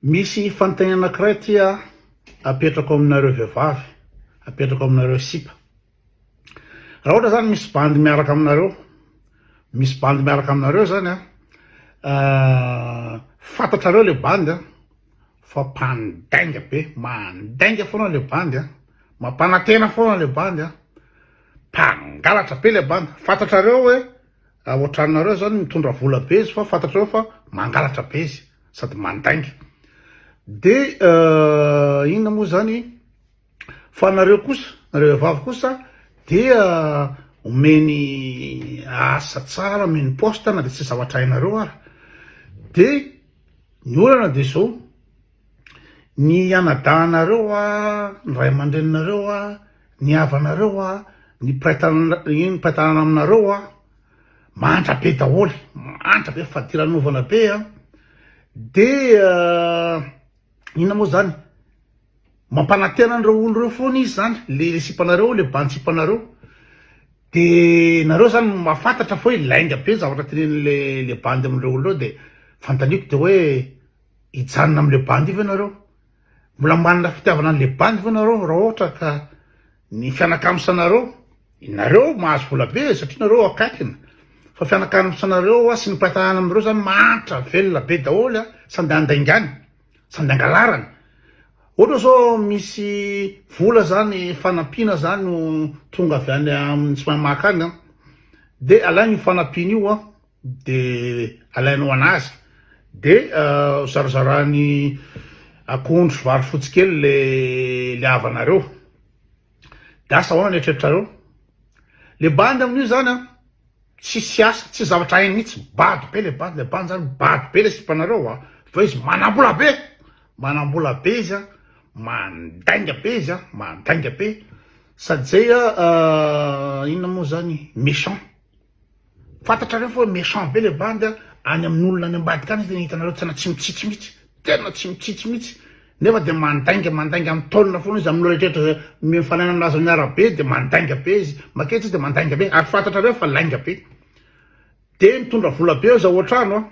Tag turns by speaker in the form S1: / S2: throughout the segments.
S1: Misy fanontaniana anankiray ity aho apetrako aminareo vehivavy, apetrako aminareo sipa. Raha ohatra zany misy bandy miaraka aminareo, misy bandy miaraka aminareo zany an, ah, fantatrareo le bandy an, fa mpandainga be, mandainga foana le bandy an, mampanantena foana le bandy an, mpangalatra be le bandy, fantatrareo hoe Raha ohatranareo zany mitondra vola be izy fa fantatrareo fa mangalatra be izy sady mandainga de inona moa zany fa nareo kosa nareo vehivavy kosa dia omeny asa tsara omeny poste na de tsy zavatra hainareo ary de ny olana de zao Ny anadahinareo hoa, ny ray aman-dreninareo hoa, ny havanareo hoa, ny mpiray tanana, iny mpiray tanana aminareo hoa, mantra be daholo, mantra be, fadiranovana be an! Dia inona moa izany? Mampanantena an'ireo olona ireo foana izy izany, ilay sipanareo, ilay bantsipanareo, dia nareo izany mahafantatra fa hoe lainga be ny zavatra tenenin'ilay bandy amin'ireo olona ireo dia fanontaniako dia hoe hijanona amin'ilay bandy ve nareo? Mbola manana fitiavana an'ilay bandy ve nareo raha ohatra ka ny fianakamisanareo, nareo mahazo vola be satria nareo akaikina, fa fianakamisanareo hoa sy ny mpitahana aminareo zany mahantra velona be daholo an, sady andaingany, sady angalarany, ohatra zao misy vola zany fanampiana zany no tonga avy any amin'ny tsy mahay maka any an, dia alainy io fanampiana io an, dia alainao anazy dia zarazarany akondro sy vary fotsy kely le le havanareo dia asa ahoana ny eritreritrareo le bandy amin'io zany a tsisy asa tsisy zavatra hainy mihitsy bado be le bandy le bandy zany bado be le sipanareo a fa izy manambola be manambola be izy a mandainga be izy a mandainga be sady zay a inona moa zany méchant Fantatrareo fa méchant be le bandy a, any amin'olona any ambadika any tena hitanareo tena tsy mitsitsy mihitsy, tena tsy mitsitsy mihitsy, nefa dia mandainga mandainga mitaonina foana izy amin'ireo rehetrarehetra izay mifanaina amin'azy amin'ny arabe dia mandainga be izy, makety izy dia mandainga be, ary fantatrareo fa lainga be, dia mitondra vola be eo izao ohatrano a.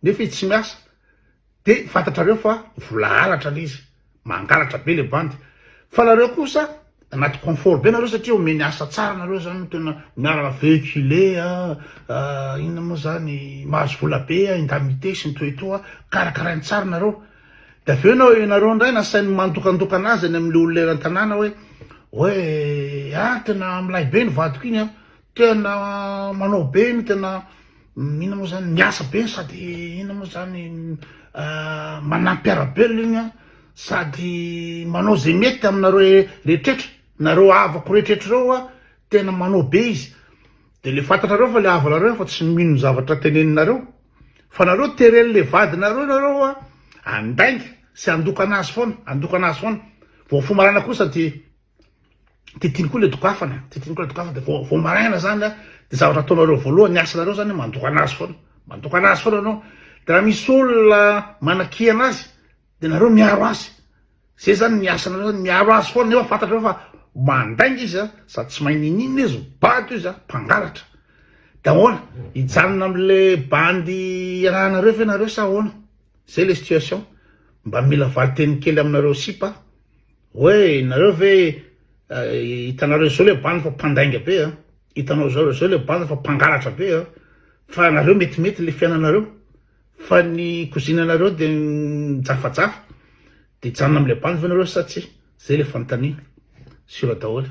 S1: nefa izy tsy miasa de fantatrareo fa vola halatra le izy mangalatra be le bandy fa nareo kosa anaty confort be nareo satria omeny asa tsara nareo zany tena miaraka véhiculé a ah, inona moa zany mahazo vola be a indemnité sy ny toetoa karakarainy tsara nareo de avy eo nao ianareo indray nasainy mandokandokana azy any amin'le olona eran-tanàna hoe hoe ah tena milay be ny vadiko iny a Tena manao be iny tena ina moa zany miasa be sady ina moa zany ah, manampiarabelona iny an sady manao zay mety aminareo rehetretra nareo avako rehetretra reo a tena manao be izy de le fantatrareo fa le havanareo efa tsy mino ny zavatra teneninareo fa nareo tereny le vadinareo nareo a andainga sy andokana azy foana andokana azy foana vao fomarana kosa de Titiny koa le dokafana, titiny koa le dokafana de vao vao maraina zany a, de zavatra ataonareo voalohany, ny asanareo zany mandokana azy foana, mandokana azy foana anao, de raha misy olona manakia anazy de nareo miaro azy, zay zany ny asanareo zany, miaro azy foana, nefa fantatrareo fa mandainga izy a, sady tsy mahay ninininona izy, bado izy a, mpangalatra, de ahoana, hijanona amle bandy iarahanareo ve nareo sa ahoana, zay le situation, mba mila valinteny kely aminareo sipa. Oe nareo ve hitanareo zao le bandy fa mpandainga be an, hitanao zao zao le bandy fa mpangalatra be an, fa nareo metimety le fiainanareo fa ny kozinanareo de mijafajafa de hijanona amle bandy ve nareo sa tsia, zay le fanontaniana, sur daholy.